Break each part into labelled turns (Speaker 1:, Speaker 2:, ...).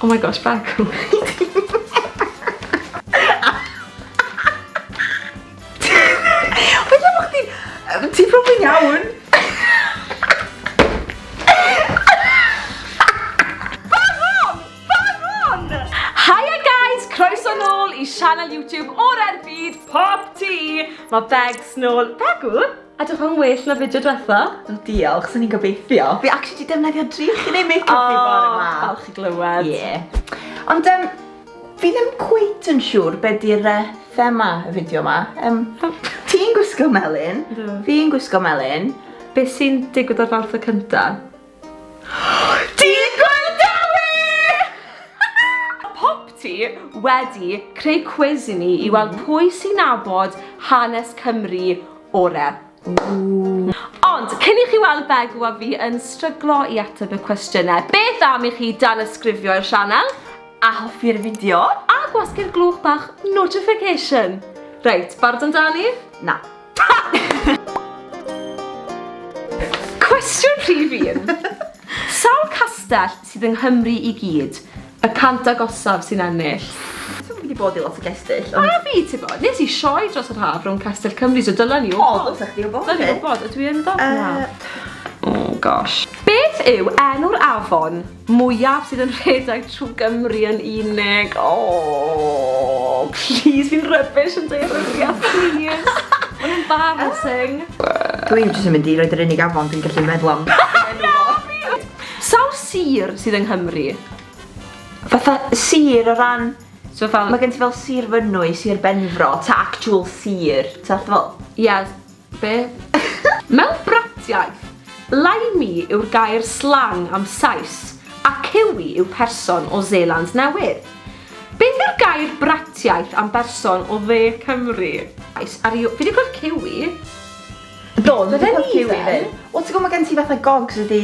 Speaker 1: Oh my gosh, bagw. Wyt ti'n bod chdi... Ti'n profi'n iawn? i sianel YouTube o'r erbyd Pop Tea. Mae Begs nôl. Begw? Edrych yn well na fideo diwetha. Do, diolch, sy'n ni'n
Speaker 2: gobeithio. Fi actually di defnyddio drych i neud make-up oh, fi bore yma. O, falch i glywed.
Speaker 1: Yeah. Ond um,
Speaker 2: fi ddim cweit yn siŵr be di'r uh, thema y fideo yma. Um, Ti'n gwisgo melyn, fi'n gwisgo melyn. Be sy'n
Speaker 1: digwydd ar fawrth y cyntaf?
Speaker 2: Digon da we!
Speaker 1: Mae Popty wedi creu cwis i ni i weld pwy sy'n nabod hanes Cymru ore. Ond, cyn i chi weld Begw a fi yn stryglo i ateb y cwestiynau, beth am i chi danysgrifio i'r sianel, a hoffi'r
Speaker 2: fideo, a gwasgu'r
Speaker 1: glwch bach notification! Reit, barod amdani? Na. Cwestiwn rhif un. Sawl castell sydd yng Nghymru i gyd? Y cant agosaf sy'n ennill. Fi wedi bod i
Speaker 2: lot o gestyll. Ond... A fi, ti'n bod.
Speaker 1: Nes i sioe dros yr haf rhwng Castell Cymru, so dylen ni wybod. O, ddylsech chdi wybod. Dylen ni wybod,
Speaker 2: ydw i yn wybod?
Speaker 1: Na. Oh gosh. Beth yw enw'r afon mwyaf sydd yn rhedeg trwy Gymru yn unig. O, please, fi'n rybys yn deiryddiad, please. Mae'n embarrassing. Dwi'n
Speaker 2: jyst yn mynd i roed yr unig afon dwi'n gallu meddwl am.
Speaker 1: Sawl sir sydd yng Nghymru?
Speaker 2: Fatha sir o ran... So fel... Mae gen ti
Speaker 1: fel sir
Speaker 2: Fynwy, sir Benfro, ta actual sir, ta fel... Ie,
Speaker 1: Be? Mewn bratiaith, Laimi yw'r gair slang am Sais, a Kiwi yw person o Seland Newydd. Beth yw'r gair bratiaith am berson o Dde Cymru? Sais, are you... Fi wedi clywed Kiwi. Do,
Speaker 2: dwi wedi clywed Kiwi 'fyd. Wel ti'n gwybod mae gen ti fatha gogs ydi...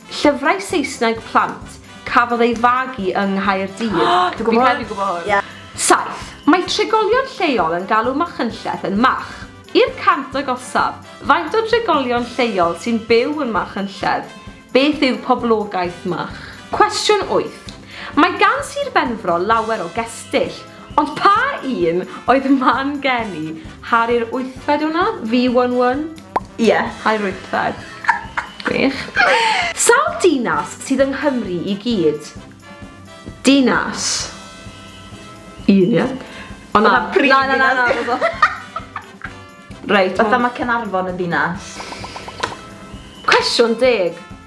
Speaker 1: Llyfrau Saesneg plant cafodd ei fagu yng Nghaerdydd. O! Dwi'n gwybod hwn! Fi'n
Speaker 2: credu dwi'n gwybod hwn.
Speaker 1: Ie. 7. Mae trigolion lleol yn galw Machynlleth yn Mach. I'r cant agosaf, faint o drigolion lleol sy'n byw yn Machynlleth? Beth yw poblogaeth Mach? Cwestiwn 8. Mae gan Sir Benfro lawer o gestyll. Ond pa un oedd man geni? Harri'r wythfed wnna? Fi one one? Ie,
Speaker 2: Harri'r wythfed.
Speaker 1: Gwych. Sawl dinas sydd yng Nghymru i gyd? Dinas. Un ia? O na. Na na na na. Reit. Fatha ma
Speaker 2: Caernarfon yn ddinas.
Speaker 1: Cwestiwn deg.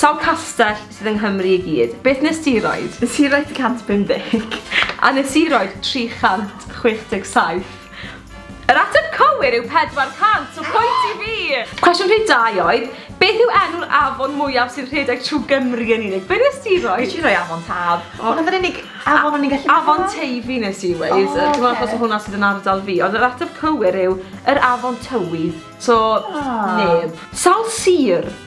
Speaker 1: Sawl castell sydd yng Nghymru i gyd? Beth nes di roid? Nes i roid 150.
Speaker 2: A nes i
Speaker 1: roid 367. Yr ateb cywir yw 400, so pwynt i fi! Cwestiwn rhif dau oedd, beth yw enw'r afon mwyaf sy'n rhedeg trwy Gymru yn unig? Be nes di roi? Nes i roi Afon Taf. O.
Speaker 2: Hwnna oedd yr unig afon o'n i'n gallu meddwl am. Afon Teifi nes
Speaker 1: i weud. O oce. Dwi'n meddwl achos o hwnna sydd yn ardal fi, ond yr ateb cywir yw yr Afon Tywi. So, neb. Sawl sir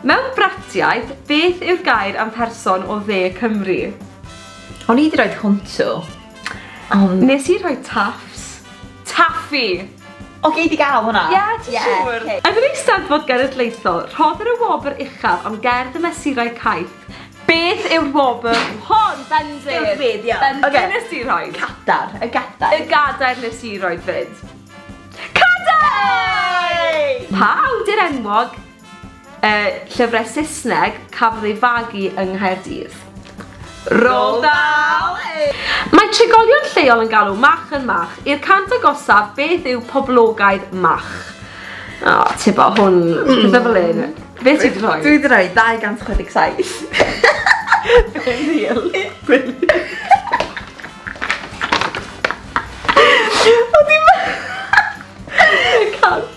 Speaker 1: Mewn bratiaith, beth yw'r gair am person o dde Cymru? O'n
Speaker 2: i 'di rhoi hwntw. Ond...
Speaker 1: Nes i rhoi taffs. Taffi! O, gei
Speaker 2: di gael hwnna? Ie, ti siŵr?
Speaker 1: Ie, Yn yr Eisteddfod Genedlaethol, rhoddir y wobr uchaf am gerdd y mesurau caeth. Beth yw'r wobr hon? Bendith! Bendith, iawn. Bendith okay.
Speaker 2: nes i rhoi.
Speaker 1: Cadar, y gadair.
Speaker 2: Y gadair nes
Speaker 1: i rhoi fyd. Cadar! Pa awdur enwog Y llyfrau Saesneg cafodd ei fagu yng Nghaerdydd. Roald
Speaker 2: Dahl! Mae
Speaker 1: trigolion lleol yn galw Mach yn Mach. I'r cant agosaf, beth yw poblogaidd Mach? O, ti bo, hwn, pethau fel un. Be ti
Speaker 2: wedi rhoi? Dwi wedi rhoi 267. Be ddil?
Speaker 1: Be ddil?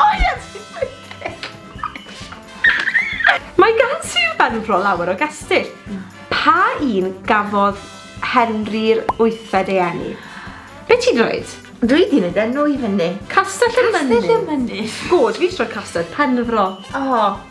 Speaker 2: O ie, ti'n wicked!
Speaker 1: Mae gan Sir Benfro lawer o gestyll. Pa un gafodd Henri'r Wythfed ei eni? Be ti'n dweud? Dwi 'di neud enw
Speaker 2: i fyny. Castell y Mynydd.
Speaker 1: Castell y Mynydd. Good,
Speaker 2: fi 'di rhoi Castell
Speaker 1: Penfro. O!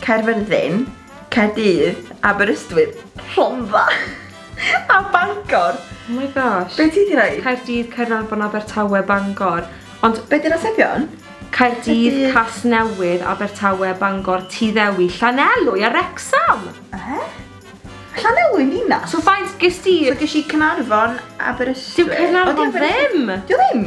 Speaker 2: Caerfyrddin, Caerdydd, Aberystwyth, Rhondda a Bangor. Oh my gosh.
Speaker 1: Be ti di roi? Caerdydd,
Speaker 2: Caernarfon,
Speaker 1: Abertawe, Bangor. Ond... Be di'r atebion?
Speaker 2: Caerdydd,
Speaker 1: Casnewydd, Abertawe, Bangor, Tyddewi, Llanelwy a Wrecsam. Ehe? Llanelwy
Speaker 2: yn ddinas? So faint ges di?
Speaker 1: So ges i Caernarfon,
Speaker 2: Aberystwyth.
Speaker 1: Dyw Caernarfon
Speaker 2: ddim.
Speaker 1: Dyw ddim?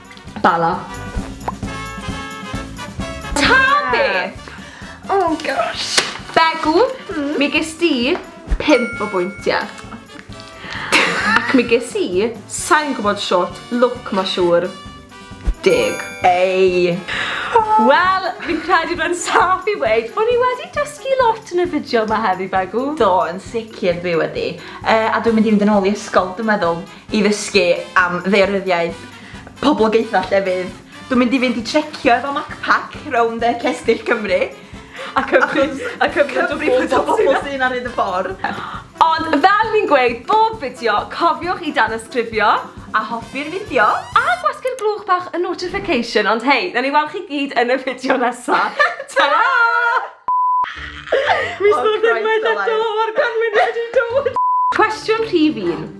Speaker 2: Bala.
Speaker 1: Ta beth! Oh
Speaker 2: gosh. Begw,
Speaker 1: hmm? mi ges di 5 o bwyntiau. Ac mi ges i, sa'n gwybod short, look ma siŵr, deg. Ei! Wel, fi'n credu bod yn saff i weid bod ni wedi dysgu lot yn y fideo yma heddi, Begw. Do, yn sicr
Speaker 2: fi wedi. Uh, a dwi'n mynd i fynd yn ôl i ysgol, dwi'n meddwl. i ddysgu am ddaearyddiaeth poblogaethau llefydd. Dwi'n mynd i fynd i trecio efo MacPac rownd y cestyll Cymru a cymryd... A cymryd y bobl sy'n ar hyd y ffordd. Ond
Speaker 1: fel fi'n gweud bob fideo, cofiwch i danysgrifio a hoffi'r
Speaker 2: fideo. A gwasgu'r
Speaker 1: gloch bach y notification, ond hei, nawn ni weld chi gyd yn y fideo nesa. Tara! Mis nôl unwaith eto, mae'r gwanwyn wedi dod! Cwestiwn rhif un.